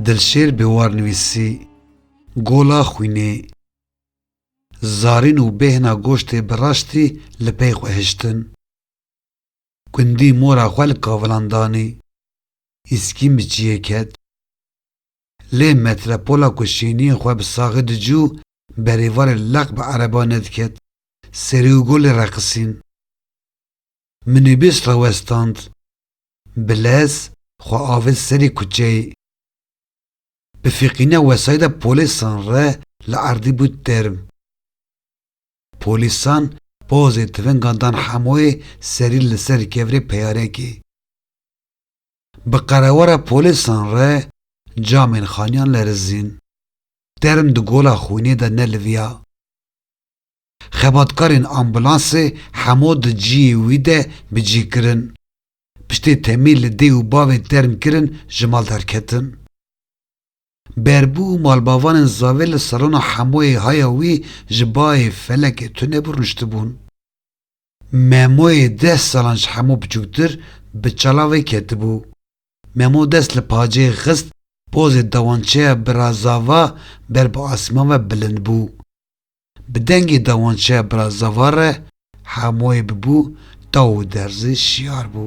Dilşêr Bêwar nivîsî, Gola xwînê, zarîn û bêhna goştê bi raştî li pey xwe hiştin. Gundî mora xwe li kavilan danî, îskîn bi çiyê ket. Lê metrepola ku şêniyên xwe bi saxî dicû berê varê leq bi ereban nediket, serî û golê reqisîn. Minîbûs rawestand. Bi lez xwe avêt serî kuçeyê. Bi fîqîna wesayda polîsan re li erdî bû term. Polîsan pozê tifingan dan hemoyê serî li ser kevirê peyarekê. Bi qerewara polîsan re camên xaniyan lerizîn. Term di gola xwînê de neliviya. Xebatkarên ambulansê hemû di ciyê wî de bi cî kirin. Piştê temî li dê û bavê term kirin ji mal derketin. Berbû û malbavanên zavê li salona hemoyê haya wî ji bayê felekê tunebû rûniştibûn. Memoyê deh salan ji hemû biçûktir bi çala wê ketibû. Memo dest li pacê xist, pozê dawançeya Brazava ber bi asman ve bilind bû. Bi dengê dawançeya Brazava re hemoyê bibû taw û derzê şiyar bû.